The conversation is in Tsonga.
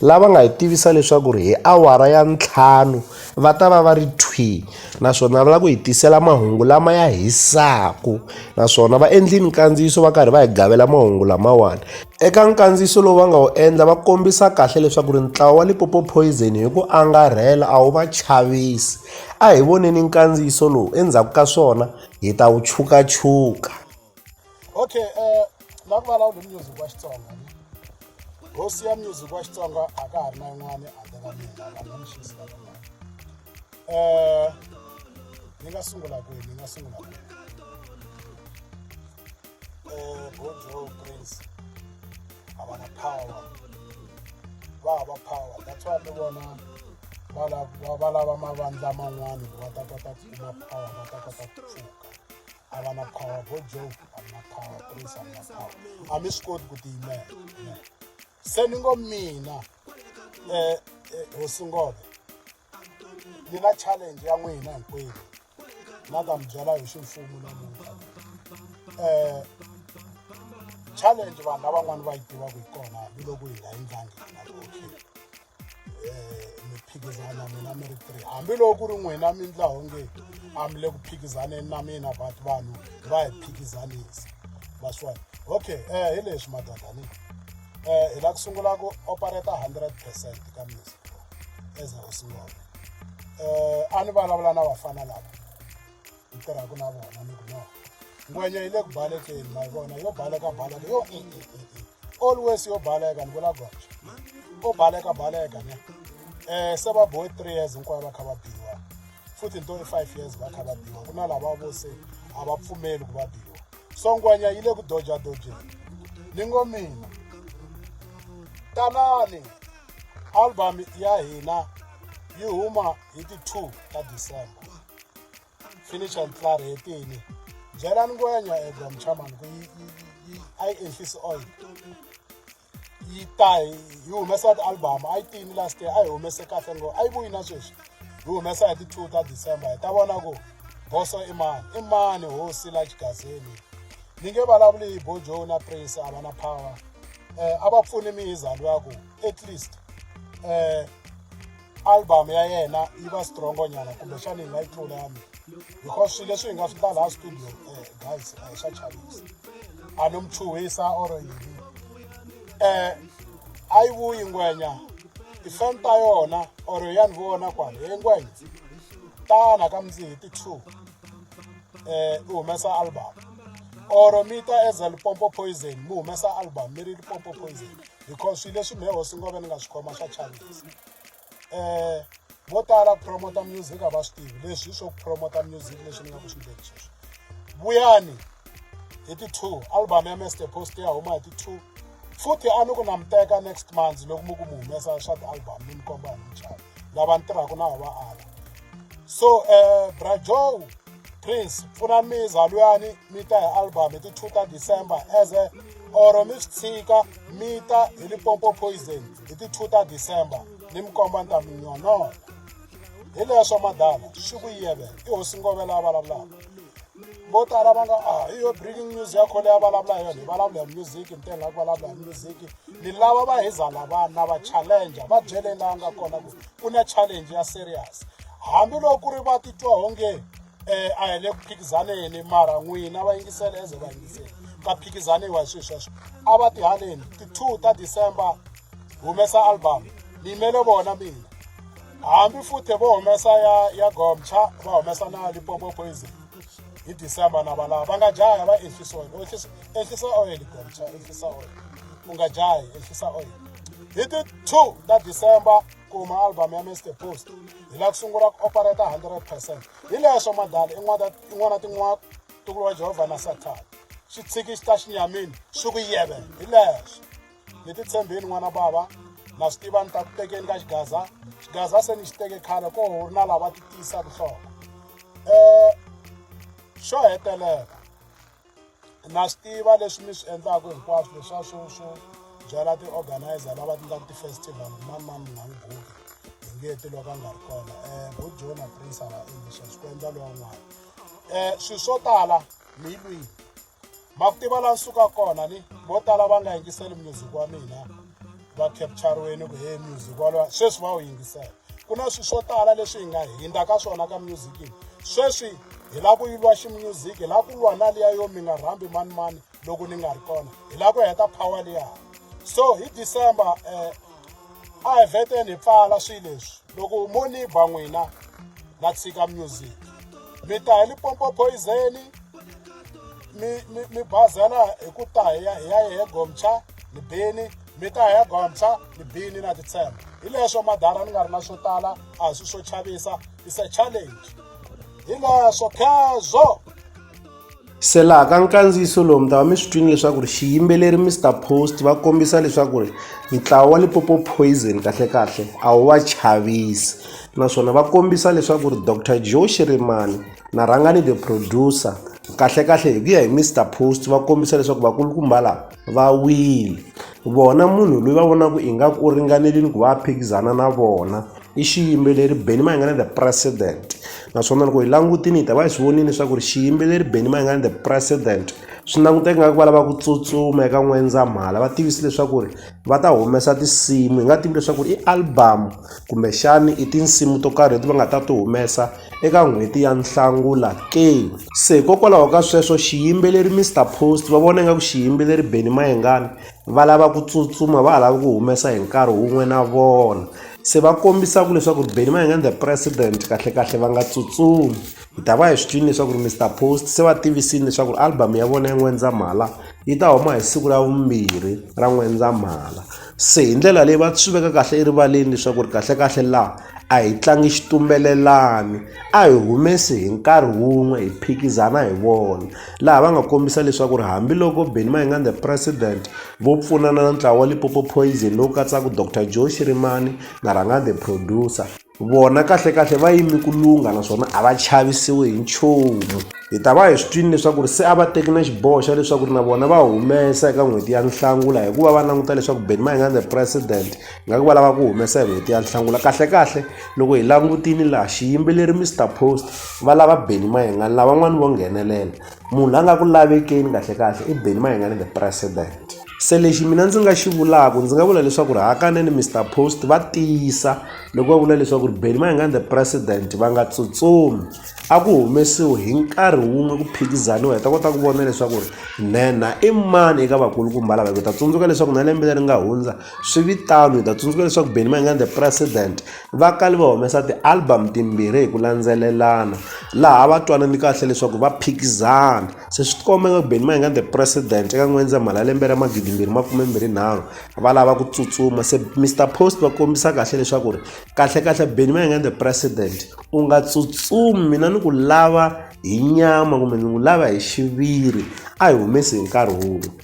lava nga hi tivisa leswaku ri hi awara ya ntlhanu va ta va va ri thwi naswona va lava ku hi tisela mahungu lama ya hisaka naswona va endlile nkandziyiso va karhi va hi gavela mahungu lamawani eka nkandziyiso lowu va nga wu endla va kombisa kahle leswaku ri ntlawa wa lipopo poison hi ku angarhela a wu va chavisi a hi voneni nkandziyiso lowu endzhaku ka swona hi ta wu chukachuka okay um na ku vulavula hi music wa xitsonga hosi ya music wa xitsonga a ka ha ri na yin'wana handle ka mina la nga mixisi la kun'wana um ni nga sungula kwihi ni nga sungula kwihi um bojo prince a va na power va hava power that's why ni vona va lava mavandla man'wana ku va ta kota ku kuma power va ta kota ku pfuka a va na power bo joke a mi na power prince a mi na power a mi swi koti ku tiyimela se ni ngo mina um hosi ngove ni na challenge ya n'wina hinkwenu na ta mi byela hi ximfumo namuntlha um challenge vanhu lavan'wani va yi tivaka hi kona hambiloko hi nga endlangi na okay phikizana mina mi ri three hambiloko ku ri n'wina mi ndla onge a mi le ku phikizaneni na mina but vanhu va hi phikizanisa maswona okay um hi leswi madadani um hi lava ku sungula ku opereta hundred percent ka music as a singona um a ni vulavula na vafana lava hi tirhaka na vona ni ku no ngwenya yi le ku balekeni ma yi vona yo baleka baleka yo e, e, e, always yo baleka ni vula goxa ko baleka baleka ne um se va bohe three years hinkwayo va kha va biwa futhi ni to i five years va kha va biwa ku na lava vo se a va pfumeli ku va biwa so ngwenya yi le ku doja dojeni ni ngo mina tanani album ya hina yi huma hi ti-two ta december finish and flour hetini byela ni ngwenya ega mchamani ku yi yi a yi ehlisi oil yi ta yi humesa ti-album a yi tini last year a yi humese kahle ngo a yi vuyi na sweswi yi humesa hi ti-two ta december hi ta vona ku boso i mani i mani hosi la xigazeni ni nge vulavuli hi bojo na prince a va na power um a va pfuni mi hi zalo ya ku at least um album ya yena yi va strongo nyana kumbexana yi nga yi tlula ya mina because swilo leswi hi nga swi ta laha studio um guys a hi swa chavisa a no mchuhisa or yini um a yi vuyi ngwenya tifan ta yona or ya ni vona kwalo hi ngwenya tana ka mindzihi ti-two um eh, u humesa album or mi ta as a lipompo poison mi humesa album mi ri lipompo poison because swilo leswi mehe hosi ngove ni nga swi khoma swa chavisa um vo tala ku promota music a va swi tivi leswi swo ku promota music leswi ni nga ku swi ndleni sweswi vuyani hi ti-two album ya mester post ya huma hi ti-two futhi a ni ku na mi teka next month loko mi ku mi humesa swa ti-album ni mi komba hi muchavo lava ni tirhaka na va ala so um eh, brajow prince pfuna miza luyani mi ta hi album hi ti-two ta december as a or mi swi tshika mi ta hi lipompo poison hi ti-two ta december ni mi komba ni ta mi nyonona hi leswo madala swi ku yeve i hosi ngovela a vulavulaka vo tala va nga a ah, hi yo breaking news ya khole ya vulavula hi yona hi vulavula hi music ntena ku vulavula hi music ni lava va heza lavana va challenger va byele laha nga kona ku ku na challenge ya serious hambiloko ku ri va titwa onge um a hi le ku phikizaneni mara n'wina va yingisela eze va yingisela ka phikizaniwa hi swilo sweswo a va tihaneni ti-two ta december humesa album ni yimele vona mina hambi futhi vo humesa ya ya gomcha va humesa na lipopo poison hi december na valava va nga jaya va ehlisa oil ehlisa oil gomcha ehlisa oil u nga jayi ehlisa oil hi ti two ta december kuma album ya mr post hi lava ku sungula ku operata hundred percent hi leswo madala in'wana tin'wana tin'wana tukulu wa jehovha na sathana xi tshiki xi ta xi nyamini swi ku yevela hi leswo ni ti tshembeni n'wana bava na swi tiva ni ta ku tekeni ka xigaza xigaza se ni xi teke khale ko ri na lava ti tiyisa vuhloko um xo hetelela na swi tiva leswi mi swi endlaka hinkwaswo leswa swo swo byala ti-organizer lava ti endlaka ti-festival mani mani mi nga n'wi guki hi nge ti loko a nga ri kona um bo jona prince a va endli sweswo ku endla lowa n'wana um swilo swo tala mi yi lwini ma ku tiva laha suka kona ni vo tala va nga yingiseli music wa mina va capturiweni ku he music walowa sweswi va wu yingisela ku na swilo swo tala leswi hi nga hindza ka swona ka music sweswi hi lava ku yi lwa ximusic hi lava ku lwa na liya yo mi nga rhambi manimani loko ni nga ri kona hi lava ku heta power liya so hi december um a hi veteni hi pfala swilo leswi loko mo ni ba n'wina na tshika music mi ta hi lipompo poizeni mi mi mi bazela hi ku ta hi ya hi ya hi gomcha ni bini mi ta hi ya gomcha ni bini na titshemba hi leswo madara ni nga ri na swo tala a hi swi swo chavisa is a challenge hi leswo khezwo Se laha ka nkandziyiso lowu mi ta va mi swi twini leswaku ri xiyimbeleri Mister Post va kombisa leswaku ri ntlawa wa Limpopo Poison kahlekahle a wu va chavisi naswona va kombisa leswaku ri Doctor Joe Shirimani na Rhangani the producer kahlekahle hi ku ya hi Mister Post va kombisa leswaku vakulukumba lava va wile. Vona munhu loyi va vonaka ingaku u ringanerile ku va a phikizana na vona i xiyimbeleri Benny Mayengani the president naswona loko hi langutile hi ta va hi swi vonile leswaku ri xiyimbeleri Benny Mayengani the president swi languteka ingaku va lava ku tsutsuma eka N'wendzamhala va tivise leswaku ri va ta humesa tinsimu hi nga tivi leswaku i album kumbexani i tinsimu to karhi leti va nga ta ti humesa. eka n'hweti ya Nhlangula ke? Se hikokwalaho ka sweswo xiyimbeleri Mister Post va vona ingaku xiyimbeleri Benny Mayengani va lava ku tsutsuma va ha lava ku humesa hi nkarhi wun'we na vona se va kombisaka leswaku ri Benny Mayengani the president kahlekahle va nga tsutsumi hi ta va hi swi twini leswaku ri Mister Post se va tivisini leswaku ri album ya vona ya N'wendzamhala yi ta huma hi siku ra vumbirhi ra N'wendzamhala se hi ndlela leyi va swi veka kahle erivaleni leswaku ri kahlekahle laha A hi tlangi xitumbelelani, a hi humesi hi nkarhi wun'we hi phikizana hi vona, laha va nga kombisa leswaku ri hambi loko Benni Mayengani the President vo pfunana na ntlawa wa Limpopo Poison lowu katsaka Doctor Joe Shirimani na Rhangani the Producer, vona kahle kahle va yime ku lungha naswona a va chavisiwi hi nchumu. Hi ta va hi swi twile leswaku ri se a va teki na xiboho xa leswaku ri na vona va humesa eka n'hweti ya Nhlangula hikuva va languta leswaku Benni Mayengani the President, Ingaku va lava ku humesa hi n'hweti ya Nhlangula kahlekahle loko hi langutile laha xiyimbeleri Mister Post va lava Benny Mayengani lavan'wani vo nghenelela munhu la nga ku lavekeni kahlekahle i Benny Mayengani the president se lexi mina ndzi nga xi vulaka ndzi nga vula leswaku ri hakanene Mister Post va tiyisa loko va vula leswaku ri Benny Mayengani the president va nga tsutsumi a ku humesiwe hi nkarhi wun'we ku phikizaniwa hi ta kota ku vona leswaku ri nhenha i mani eka vakulukumba lava hi ku ta tsundzuka leswaku na lembe leri nga hundza Swi vi tano hi ta tsundzuka leswaku Benny Mayengani the president va kale va humesa ti-album timbirhi hi ku landzelelana laha va twanane kahle leswaku va phikizana se swi tikomba nga ku Benny Mayengani the president eka N'wendzamhala lembe ra magidi mbirhi makume mbirhi nharhu va lava ku tsutsuma se Mister Post va kombisa kahle leswaku ri kahle kahle Benny Mayengani the president u nga tsutsumi mina ni ku lava hi nyama kumbe ni ku lava hi xiviri a hi humesi hi nkarhi wun'we.